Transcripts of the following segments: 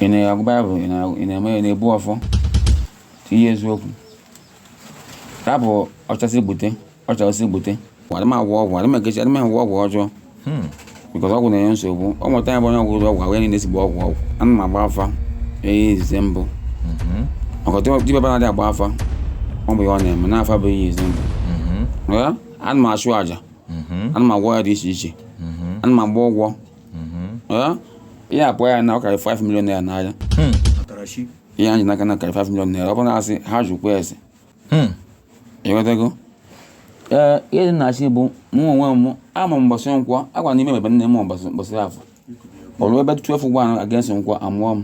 ị na-agụ baịbụl ị na-eme ya na-ebu ọfọ tinye eziokwu rapụ ọchasị bute ọchasị bute adị m agwọ ọgwụ adị m ekechi adị m agwọ ọgwụ ọjọọ hmm. because ọgwụ na-enye nsogbu ọ nweta ya bụ onye ọgwụ ụzọ ọgwụ ahụ ya niile sigbu ọgwụ ọgwụ ana m agba afa ihe izizi mbụ hmm. ọkọtụ dibịa na-adị agba afa ọ bụ ya ọ na-eme na afa bụ ihe izizi mbụ hmm. ana m achụ aja ana m agwọ ọya dị iche iche ana m agba ụgwọ ihe a pụọ ya na ọ karịrị 5 million naira n'ahịa ihe anyị n'aka na karịrị 5 million naira ọ bụrụ na asị ha jụkwa ese ịghọtago ee ihe dị na-asị bụ mụ onwe m amụ m mbọsị nkwọ agwa na ime mebe nne m mbọsị afọ o rube 12 1 against nkwọ amụọ m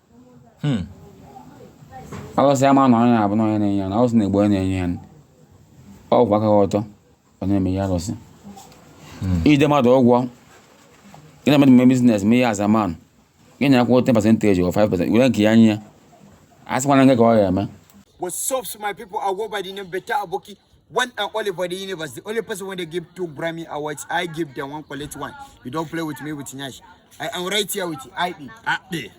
hmm. alụsị ama na onye abụ na onye na-enye ya nri alụsị na-egbu onye na-enye ya nri ọ kwụwa aka ọtọ ọ na-eme ihe alụsị hmm. ide mmadụ ụgwọ gị na mmadụ mee business mee ya as a man gị na ya kwuo 10 percentage or 5 percent were nke ya nye ya asịkwana gịnị ka ọ ga-eme What's up, my people? I go by the name Beta Aboki. one and only for the universe. The only person when they give two Grammy awards, I give them one collect one. You don't play with me with Nash. I am right here with ID. Ade.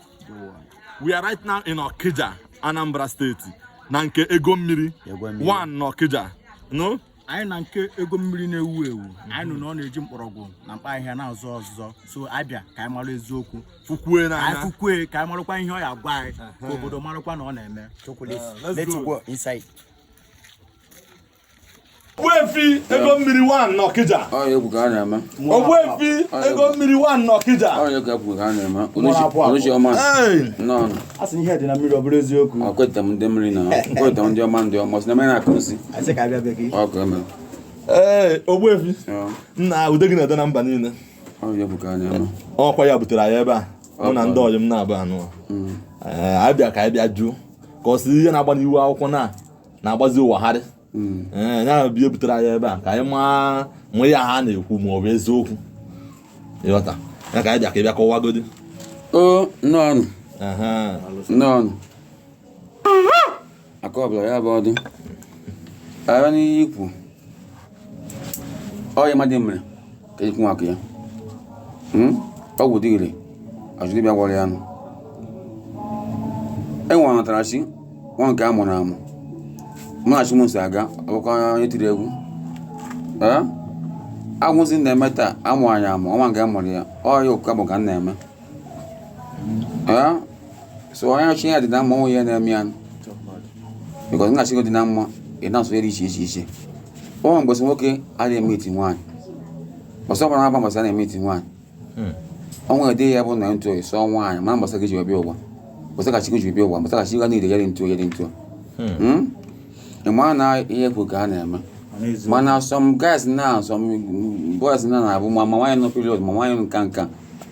We are right now in Okija, Anambra State. Na nke ego mmiri One na Okija. No? anyị na nke ego mmiri na-ewu ewu anyị nụ na ọ na-eji mkpọrọgwụ na mkpa ahịhịa na-azọ ọzụzọ so abịa ka anyị mara eziokwu fụkwuo ya n'anya fụkwuo ya ka anyị marakwa ihe ọ ya-agwa anyị ka obodo marakwa na ọ na-eme let's go inside Ogbuefi ego mmiri one n'Ọkịja. Ogbuefi ego mmiri one n'Ọkịja. Asị ihe dị na mmiri ọ bụrụ eziokwu. Akweta m ndị mmiri na akweta m ndị ọma ndị ọma si na mmiri na-akụ nsị. Ọkụ eme. Ee, Ogbuefi. Nna ude gị na-ede na mba niile. Ọkwa ya butere anyị ebe a. Mụ na ndị ọyị m nọ ebe a nụ. Anyị bịa ka anyị bịa jụụ. cause ihe na-agbanụ ihe akụkọ na na-agbazi ụwa gharịị hmm. eh, ya bịa butere anyị ebe a ka anyị maa ma ihe ha na-ekwu ma ọ bụ eziokwu ịghọta ya ka anyị bịa ka ị bịa kọwagodi o nnọọnụ nnọọnụ aka ọbụla ya bụ ọdụ ara n'ihe i kwu ọ ihe mmadụ mere ka ekwu maka ya hmm? ọgwụ dị ire ajụ dibịa gwọrọ ya nụ enwe anatara chi nwe nke a mụrụ amụ mụ na chi m so aga ọkwa onye tiri egwu agwụzi na-eme taa amụ anyị amụ o nwe nke a mụrụ ya ọya okụka bụ ka m na-eme Eh? so onye chi ya dị na mma onwe ya na-eme ya because na chi gị dị na mma ị na-asọ ihe dị iche iche iche o nwere mbọsị nwoke adịghị emetụ nwaanyị ọsọ gbara agba mbọsị a na-emetụ nwaanyị hmm. o nwere dị ya bụ na ntụ oyi sọọ nwaanyị mana mbọsị a gị ji wee bịa ụwa mbọsị a ka chi gị ji wee bịa ụwa mbọsị a ka chi gị niile ya dị ntụ ya dị ntụ hmm. hmm? ị mara na ihe kwu ka a na-eme mana some guys na some boys na na-abụ ma nwaanyị nọ period ma nwaanyị nka nka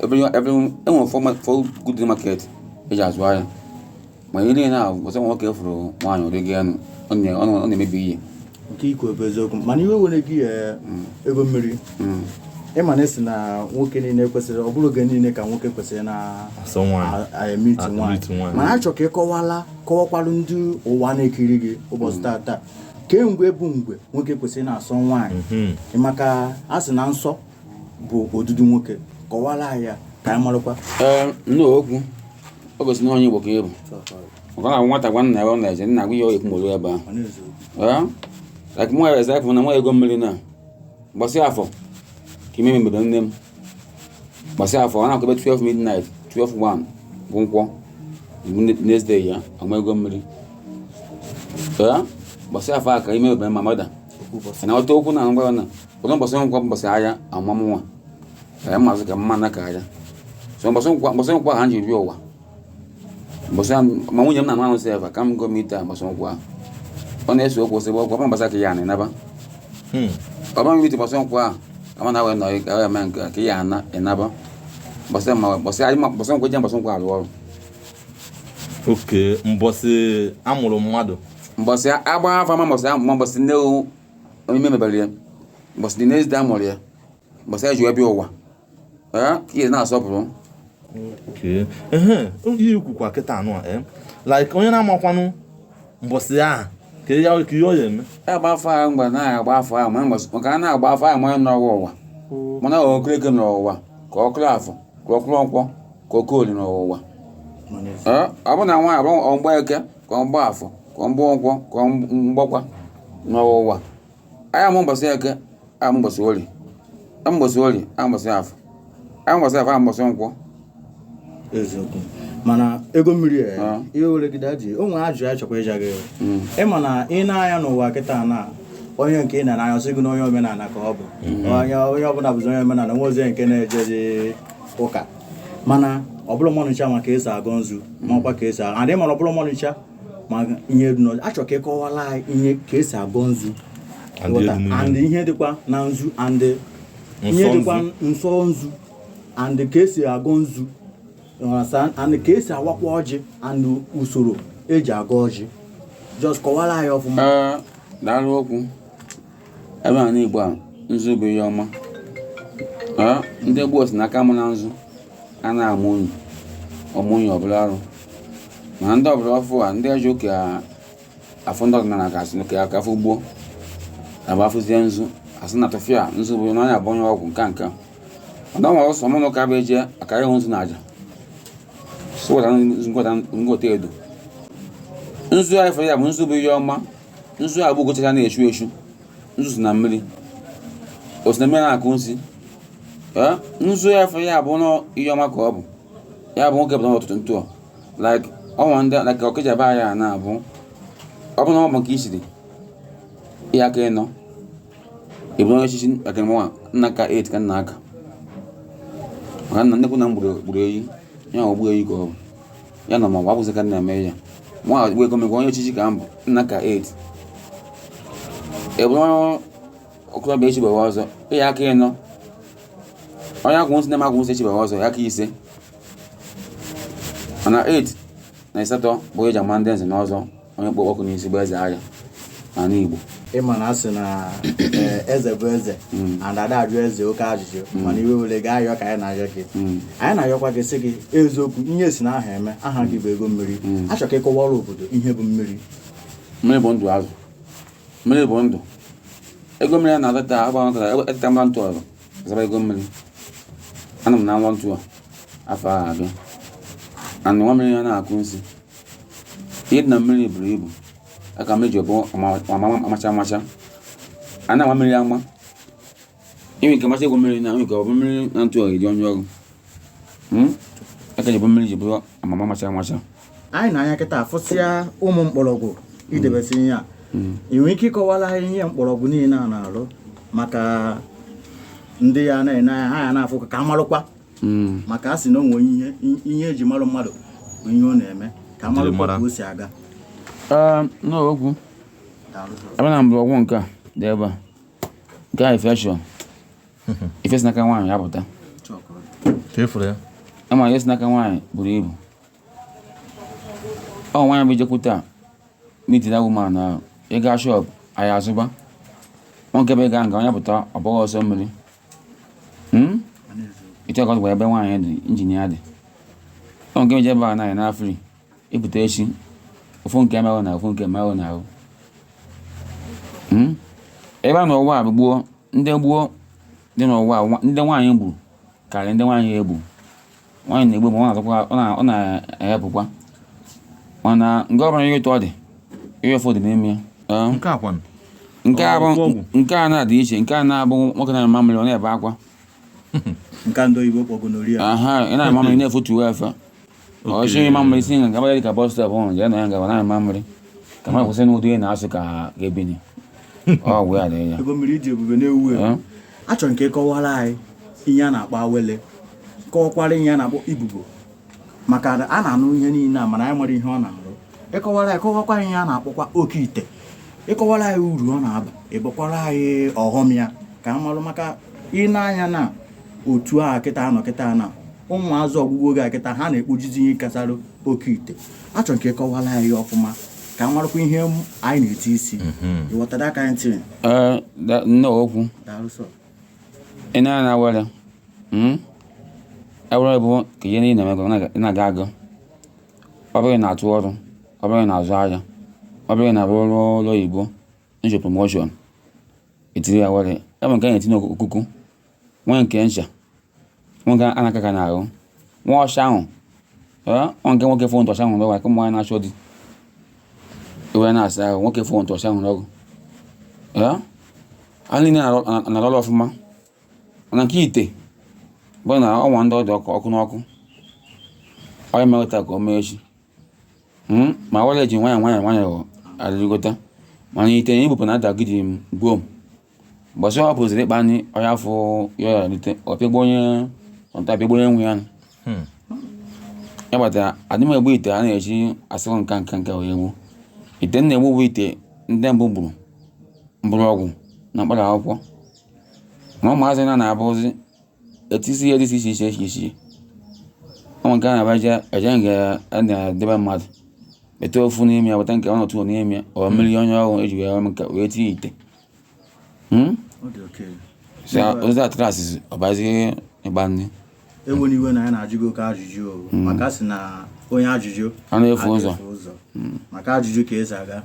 enwere four good market eji azụ ahịa ma ihe niile ahụ ọsọ nwoke fụrụ nwaanyị ụdị gị anụ ọ na-emebi ihe nke ikwu bụ eziokwu mana iwe ewena gị eh, mm. ego mmiri mm. ịma na a sị na nwoke niile kwesịrị ọ bụrọ oge niile ka nwoke kwesịrị na-emetụ nwaanyị mana achọ ka ị kọwala kọwakwalụ ndị ụwa na-ekiri gị ụbọchị mm. tata kee mgbe bụ mgbe nwoke kwesịrị na-asọ nwaanyị mm-hmm. maka a sị na nsọ bụ odudu nwoke kọwara anyị ya ka anyị marakwa ee nne okwu o gosiri na onye igbo ka ị bụ maka na nwata gwa nna ya ọ na-eje nna gwa ya onye ikwu nọlụ ebe ahụ ee like mụ eze afọ na nwa ego mmiri na mbọsị afọ ka ime mebere nne m mbọsị afọ ọ na-akụbe 12 midnight 12 1 bụ nkwọ bụ next day ya amụ ego mmiri ee mbọsị afọ a ka ime mebere my mother na ọta okwu na ngwa na ụzọ mbọsị nkwọ mbọsị a ya amụ mụwa ee ị mazi ka m na-aka ihe a so mbọsị nkwọ mbọsị nkwọ ahụ m ji ru ụwa mbọsị ahụ ma nwunye m na-anụ sef aka m agaghị emetụ ya mbọsị nkwọ ahụ ọ na-ese okwu sị ọgwụ ọma mbọsị ka ya anị naba ọba mmiri mbọsị nkwọ ahụ ka ma na wee nọrị ka wee mee nke ka ya ana ịnaba mbọsị ma mbọsị anyị ma mbọsị nkwọ je mbọsị nkwọ arụ ọrụ Okay mbọsị amụrụ mmadụ mbọsị agba afa ma mbọsị ahụ ma mbọsị nne onye ime mebere ya mbọsị dị n'ezie amụrụ ya mbọsị ya ji wee bịa ụwa ee ka ị ya na-asọpụrụ Okay. Ehe, ihe ị kwukwa kịta anụ a eh? like onye na-amakwanụ mbọsị ahụ ka ya kee ihe ọ ya eme ya gba afa ahụ mgbe a na-agba afa ahụ ma mbọsị maka a na-agba afa ahụ ma onye nọ ya ụwa mana ọ okereke nọ ụwa ka ọ okorafọ ka ọ okoronkwọ ka ọ okoli nọ ụwa Ee, ọ bụ na nwaanyị ọ bụ mgbeke ka ọ mgbafọ ka ọ mgbankwọ ka ọ mgbọkwọ nọ ụwa a ya amụ mbọsị eke amụ mbọsị orie amụ mbọsị orie amụ mbọsị afọ amụ mbọsị afọ amụ mbọsị nkwọ eziokwu mana ego mmiri a Ah. iwe ewena gị o nwere ajụjụ a chọkwa ịja gị ị ma na ị na-anya n'ụwa kịta na onye nke ị na-anya sị gị na onye omenala ka ọ bụ onye onye ọbụla bụzi onye omenala o nwezi nke na-ejezi ụka mana ọ bụrọ mmadụ ncha ma ka esi agọ nzu ma ọkwa ka esi adị mana ọ bụrọ mmadụ ncha ma ihe dị n'ọjị achọ ka ịkọwala anyị ihe ka esi agọ nzu and ihe dịkwa na nzu and ihe dịkwa nsọ nzu and ka esi agọ nzu and ka esi awakwa ọjị and usoro eji agọ ọjị just kọwara anyị ọfụma Ee, daalụ okwu ebe a n'igbo a nzu bụ ihe ọma ndị gboo sị n'aka mụ na nzu a na-amụ unyi ọ mụ unyi ọ bụrụ arụ mana ndị ọgbọ ọfụụ a ndị ọje ụka afụ ndị ọdịnala ka asị ka aka afọ gboo agba afụzie nzu asị na tụfịa nzu bụ na onye a bụ onye ọgwụ nka nka ọdọnwa ọsọ mụ na ụka bụ eje aka ịhụ nzu na aja sụwata ngwọta edo nzu anyị fere ya bụ nzu bụ ihe ọma nzu a bụ ugo chara acha na-echu echu nzu si na mmiri o si na mmiri na-akụ nsi ee nzu ya afọ ya bụ na ihe ọma ka ọ bụ ya bụ nwoke pụtara ụtụtụ ntụ like ọnwa ndị like ọkịja be anyị a na-abụ ọ bụ na ọ bụ nke isiri ịya aka ịnọ ịbụ onye echichi aka mụwa na-aka 8 ka m na-aka maka na nnekwu nna m gburu eyi ya ogbu eyi ka ọ bụ ya na mụwa bụzi ka nna eme ya nwa wee gome onye echichi ka m bụ m na-aka 8 ị bụrụ okorobịa echibeghị ọzọ ịya aka ịnọ onye agwụ nsị na-eme agwụ nsị echibeghị ọzọ ya aka ise mana 8 na ịsatọ bụ eji ama ndị nze na ọzọ onye kpu ọkụ n'isi bụ eze agha n'ala Igbo ịma na asị na eh, eze bụ eze hmm. and ada ajụ eze oke ajụjụ hmm. mana iwe were gaa ayọ ka anyị na-ayọ gị hmm. anyị na-ayọkwa gị sị gị eziokwu ihe si na aha eme aha gị bụ ego mmiri achọ ka ịkọwara obodo ihe bụ mmiri mmiri bụ ndụ azụ mmiri bụ ndụ ego mmiri a na-adọta agbanwetara eteta mba ntụ ọrụ zaba ego mmiri ana m na nwa ntụ a afọ ahụ abịa and nwa mmiri ya na-akụ nsi ihe dị na mmiri buru ibu aka mmiri ji bụ amacha amacha a na-ama mmiri ama inwe nke macha egwu mmiri na nke ọ bụ mmiri na ntụ ọhịa dị onye ọrụ hmm? aka ji bụ mmiri ji bụrụ amama amacha amacha anyị nee anya kịta afụsịa ụmụ mkpọrọgwụ idebesi ihe a hmm. ị nwere ike ịkọwala ihe mkpọrọgwụ niile a na-arụ maka ndị ya na-ene anya ha ya na-afụ ka a marụkwa hmm. maka a sị na o nwere ihe eji marụ mmadụ bụ ihe ọ na-eme ka amarụ ka o si aga ah, n'ọgwụ ebe na mgbọrọgwụ nke a dị ebe a nke a infection ife si n'aka nwaanyị apụta ama ihe si n'aka nwaanyị buru ibu ọ nwaanyị bụ ijekwute a meeting that woman na uh, ịga shop ahịa azụba nwoke bụ ịga nga onye pụta ọ bụghị ọsọ mmiri hmm? ịchọ ka ọ dịkwa ebe nwaanyị dị injinia dị ọ nke meje ebe a naghị na free ịpụta echi ofu nke emerụ na ofu nke emerụ na ahụ hmm? ebe a n'ụwa a bụ gboo ndị gboo dị n'ụwa ndị nwaanyị gburu karịrị ndị nwaanyị egbu nwaanyị na-egbu ma ọ na-azọkwa ọ na-ayapụkwa mana nke ọbụla ihe ụtọ dị ihe ụfụ dị n'ime ya nke a kwanụ nke a bụ nke a na-adị iche nke a na-abụ nwoke na mamịrị ọ na-ebe akwa nke ndị oyibo kpọ gonorrhea aha ị na-eme mamịrị na-efutu efe ọchị mamịrị si nga gabara dịka bọs stọp ọhụrụ jee na ya ngaba na ịma mmiri ka mmadụ kwụsị n'ụdị ihe na-asụ ka ebini ọgwụ ya dị ya ego mmiri iji ebube na-ewu ewu achọrọ m ka ị kọwara anyị ihe a na-akpọ awele kọwakwara ihe a na-akpọ ibobo maka na a na-anụ ihe niile a mana anyị amarọ ihe ọ na-arụ ịkọwara anyị kọwakwa ihe a na-akpọkwa oke ite ịkọwara anyị uru ọ na-aba ikwukwara anyị ọghọm ya ka a marụ maka ịna anya na otu a kịta a nọ kịta na ụmụazị ọgwụgwọ oge a kịta ha na-ekpojizi ihe gbasara oke ite achọrọ m ka ị kọwara anyị ọfụma ka m marakwa ihe m- anyị na-eti isi Mhm. ịghọta that kind thing Ee, da- nnukwu daalụ sọ ị na na awere mm? awere bụ ka ihe niile na-emego na- ị na-aga aga ọ bụrụ ị na-atụ ọrụ ọ bụrụ ị na-azụ ahịa ọ bụrụ ị na-arụ ọrụ ụlọ oyibo nche promoshọn etiri ya awere e nwee nke a na-etinye n'okuku nwee nke ncha nwee nke a na-aka aka n'ahụ nwa ọcha ahụ ọ nke nwoke fon tọcha ahụ n'ọgwụ ka ụmụ nwaanyị na-achọ di iwe na-asa ahụ nwoke fon tọcha ahụ n'ọgwụ a niile na-alụ ọlụ ọfụma mana nke ite bụ na ọnwa ndị ọ dị ọkụ ọkụ n'ọkụ onye meweta ka o mee echi hmm? ma awele ji nwayọ nwayọ nwayọ arịgota mana ite na ibupụ na adagidi gbom mbọsị ọ pụziri ịkpa nri onye afọ ya ya lite ọ pịagbu onye ọnta pịagbu onye nwe ya nụ. Hmm. ya kpatara adị m egbu ite a na-eji asịrị nka nka nka wee gbuo ite m na-egbu bụ ite ndị mbụ gburu mgbọrọgwụ na mkpara akwụkwọ ma ụmụazị na na-abụzi etisi ihe dị iche iche iche iche ụmụ nke a na-abaja eje nke a na-edebe mmadụ bete ofu n'ime ya weta nke ọ nọtụ n'ime ya ọ mmiri onye ọhụrụ eji wee mee nke wee tinye ite Hmm? Ọ dị oke. So, ozi atrasị ọbazi ịkpa nri Ewena iwe na a na-ajụ gị oke ajụjụ o. Maka sị na onye ajụjụ anaghị efu ụzọ ga-efu Maka ajụjụ ka eji aga.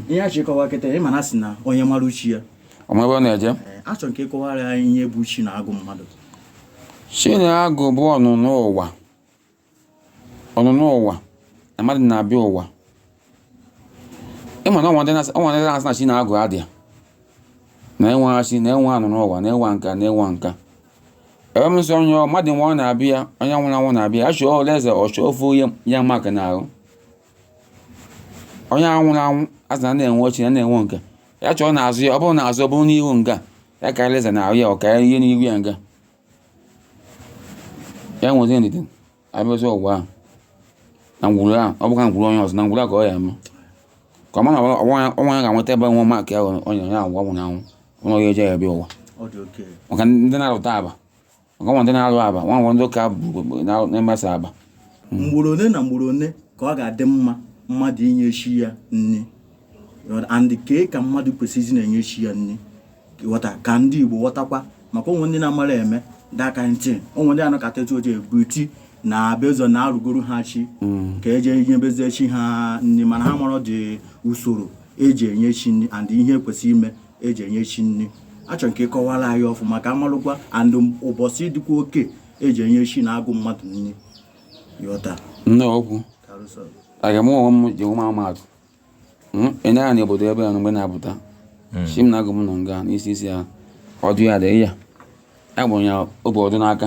Ihe a ị ji kọwa kịta ị ma na a sị na onye mara chi ya o nwe ebe ọ na-eje Ee, achọrọ m ka ị kọwara anyị ihe bụ chi na agụ mmadụ chi na agụ bụ ọnụnụ ụwa ọnụnụ ụwa na mmadụ na-abịa ụwa ị ma na o nwe ndị na-asị o nwe ndị na-asị na chi na agụ adịa na enwe chi na enwe ọnụnụ ụwa na enwe nka na enwe nka ebe m sị onye ọ- mmadụ nwa ọ na-abịa onye nwụrụ anwụ na-abịa achọ ole eze ọ chọọ ofu onye ya maka n'ahụ onye ahụ nwụrụ anwụ a sị na a na-enwe chi na a na-enwe nke ya chọọ n'azụ ya ọ bụrụ n'azụ ọ bụrụ n'ihu nga ya karịa eze n'ahụ ya ọ karịa ihe n'ihu ya nga ya nwezi ndidi abịazi ụwa ahụ na ngwuru ahụ ọ bụkwa ngwuru onye ọzọ na ngwuru ahụ ka ọ ya eme ka ọ ma na ọnwa ya ga-enweta ebe nwa maka ya onye onye ahụ ọ nwụrụ anwụ ọnwa ya eje ya bịa ụwa ọ dị oke maka ndị na-arụta aba ọgọnwa ndị na-alụ aba nwa nwa ndị ụka bụ na- na-emesa aba ugboro one na ugboro one ka ọ ga-adị mma mmadụ inye chi ya nri and kee ka mmadụ kwesịrị na-enye chi ya nri ghọta ka ndị Igbo ghọtakwa maka o nwe ndị na-amara eme daka ntị o nwe ndị anọkata etu oche ebuti na based on na arụgoro ha chi ka e je nyebezie chi ha nri mana ha amarọdị usoro e ji enye chi nri and ihe kwesịrị ime eji enye chi nri achọrọ m ka ị kọwara anyị ọfụma ka a malụkwa and ụbọchị dịkwa oke eji enye chi na agụ mmadụ nri yọta nne okwu aga m onwe m ji ọmụma atụ enye ya na obodo ebe ya mgbe na-apụta hmm. chi m na agụ m nọ nga n'isi isi ya ọdụ ya dị ya agbụrụ ya o bu ọdụ n'aka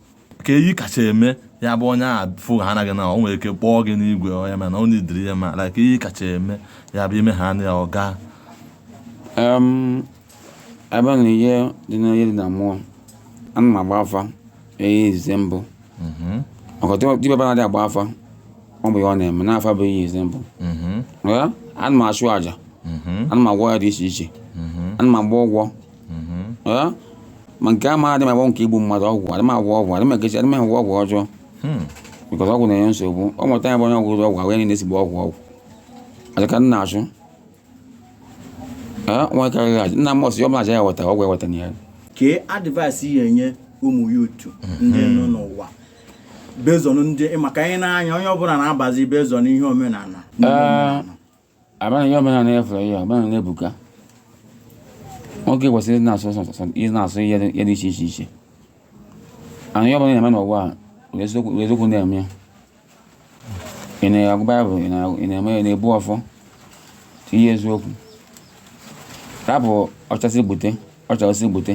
kee ihe ị kacha eme ya bụ onye a fụ ha anaghị na o nwere ike kpọọ gị n'igwe onye mana ọ na-adịrị ya mma like ihe ị kacha eme ya bụ ime ha anya ya ọ gaa ebe na ihe dị n'ihe dị na mmụọ ana m agba afa ihe izizi mbụ maka dibịa ba na-adị agba afa ọ bụ ihe ọ na-eme na afa bụ ihe izizi mbụ ana m achụ àjà ana m agwọ ọya dị iche iche ana m agba ọgwụ ma nke a ma adị m agba nke igbu mmadụ ọgwụ adị m agwọ ọgwụ adị m ekechi adị m agwọ ọgwụ ọjọọ because ọgwụ na-enye nsogbu ọ nweta ya bụ onye ọgwụ ụzọ ọgwụ ahụ ya niile ezigbo ọgwụ ọgwụ aja ka nna achụ nwa karịrị aja nna m ọsị ọ bụla aja ya weta ọgwụ eweta na ya kee advice ị ya-enye ụmụ youth ndị nọ n'ụwa based on ndị maka anyị na-anya onye ọbụla na-abazi based on ihe omenala Abana ihe omenala na-efu ya ọbụla na-ebuka nwoke kwesịrị ịdị na-asọ ịdị na-asọ ihe dị iche iche iche ana ihe ọbụla ị na-eme n'ụwa were eziokwu na-eme ya ị na-agụ baịbụl ị na-eme ya na-ebu ọfọ tinye eziokwu rapụ ọchasị gbute ọchasị gbute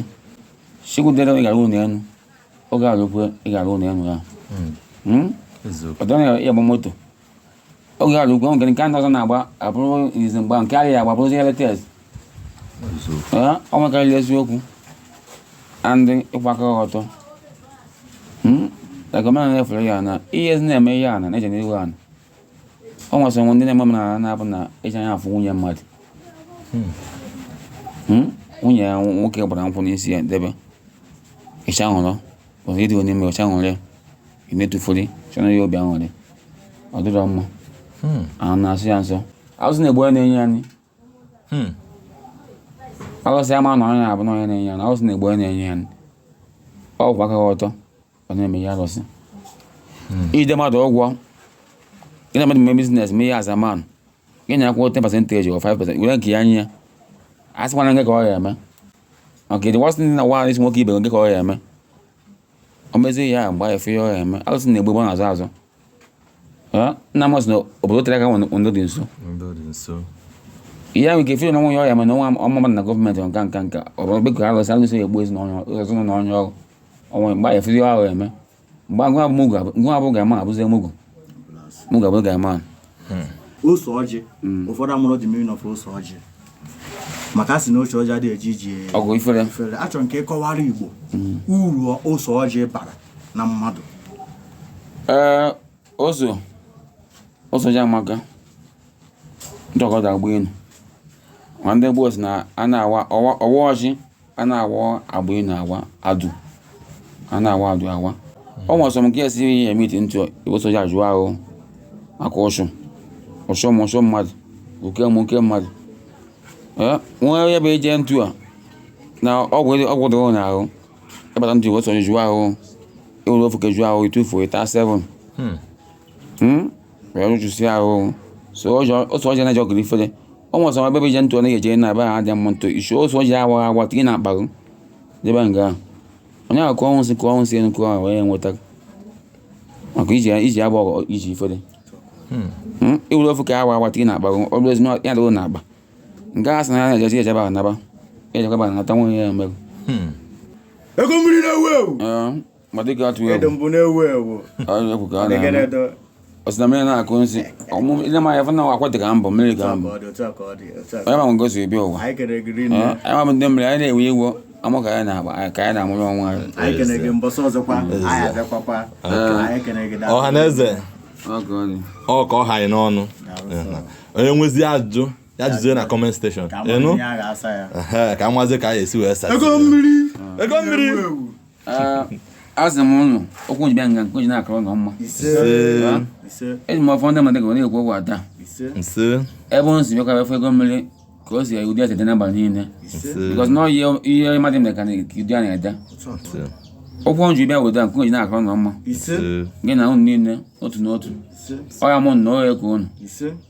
chi kwudere ị ga-arụ ụlọ elu oge rukwe ị ga-arụ ụlọ elu ya hmm. Hmm? ọdọ na-agba moto oge ala ugwu nke nke ndị ọzọ na-agba abụrụ izi mgba nke adịghị agba bụrụzi ihe latest ọ nwekarịrị eziokwu and ịkwụ aka ọtọ ekọmena hmm? na-efere ya na ihe ezi na-eme ihe ana na-eje n'ihu ana ọ nwesị onwe ndị na-eme omenala na-abụ na ịcha anya afụ nwunye mmadụ hmm. Hmm? nwunye ya nwoke gbara nkwụ n'isi ya debe ịcha hụrụ ọzọ ịdị onye mere ọcha ṅụrị emetụfuri chọrọ ya obi aṅụrị ọ dịrọ mma hmm. ahụ na-asọ ya nsọ alụsị na-egbu onye na-enye ya nri hmm. alụsị ama na onye na-abụ na onye na-enye ya nri alụsị na-egbu onye na-enye ya nri ọ kwụ aka ọtọ ọ na-eme ya alụsị hmm. ide mmadụ ụgwọ gị na mmadụ mee business mee ya azaman gị na-akwụ 10 percent or 5 percent were nke ya nye ya a sịkwana nke ka ọ ya eme maka ịdị wasị ndị na nwaanyị isi nwoke ibe gị ka ọ ya eme o mezie ya mgbe ya efe ya ọ ya eme alụsị na-egbu egbu na-azụ azụ Eh, nna m sị na obodo tere aka nwere ndị dị nso Ndị dị nso. ihe ahụ nke feel na nwa ya ọ ya eme na nwa ụmụ mmadụ na gọọmenti nka nka nka ọ bụ bekọ alụsị alụsị ya egbu ezinụlọ ezinụlọ onye ọrụ ọnwa mgbe ya efe ya ọ ya eme mgbe agụ abụ mugu abụ- nwa abụ guy man abụzie mugu mugu abụ guy man ose ọjị ụfọdụ amarọ the meaning of ose ọjị maka a sị na ose ọjị adịghị eje ije ọgụ ifere efere achọrọ nke ịkọwara igbo uru ose ọjị bara na mmadụ ee ose ose ọjị amaka ntakọta agba ilu ma ndị gboo si na a na-awa ọwa ọwa ọjị a na-awa agba ilu awa adụ a na-awa adụ awa ọ nwere some nke esi ihe emiti ntụ iwe ose ọjị jụọ ahụ maka ụsụ ụsụ m ụsụ mmadụ oke m oke mmadụ ee nwa onye bụ ije ntụ a na ọgwụ dị- ọgwụ dịrị na ahụ ịbata ntụ iwe ose ọjị jụọ ahụ ịwere ofu ka jụọ ahụ ịtụfuo ịta 7 Hmm. wee rụchụsịa ahụ ose ọjị ose ọjị na-eje ọgụ ifere ọ nwere some ebe ị je ntụ ọ na-eje na ebe ha dị mma ntụ isu ose ọjị awa awa tinye na akparụ debe nga ahụ onye ahụ kụọ nwụsị kụọ nwụsị enu kụọ ahụ wee nweta maka ije ije agba ọgọ ije ifere iwere ofu ka awa awa tinye na akparụ ọ bụrụ ezi na ya dịrị na akpa nke a sị na ya na-ejeji ejebe ahụ naba ejekwa ba nata nwunye ya merụ ego mmiri na-ewu ewu Ee, ma dịka atụ egwu mbụ na-ewu ewu ọ sị na mmiri na-akụ nsị ile m anya fana akwa dị ka mbọ mmiri ka mbọ onye ma ngosi ebi ụwa anyị mabụ ndị mmiri anyị na-enwe iwu amụ ka anyị na-agba ka anyị na-amụrụ onwe anyị ọha na eze ọ ka ọ ha anyị n'ọnụ onye nwezi ajụjụ ya jụzie na comment section unu ka nwazi ka anyị esi wee sa ego mmiri ego mmiri Ah, azị m ụnụ okwu njibe nga nke oji na-akara ụnụ mma eji m ọfọ ndị mmadụ ga na-ekwu okwu ada ebe ụnụ si bịakwa efe ego mmiri ka o si ụdị ese dị n'abalị niile bikọs na ọyị ihe mmadụ mere ka na- ka ụdị a na-ede okwu ọnjụ bịa weda nke oji na-akara ụnụ mma gị na ụnụ niile otu n'otu ọ ya mụ na ọ ya ka ụnụ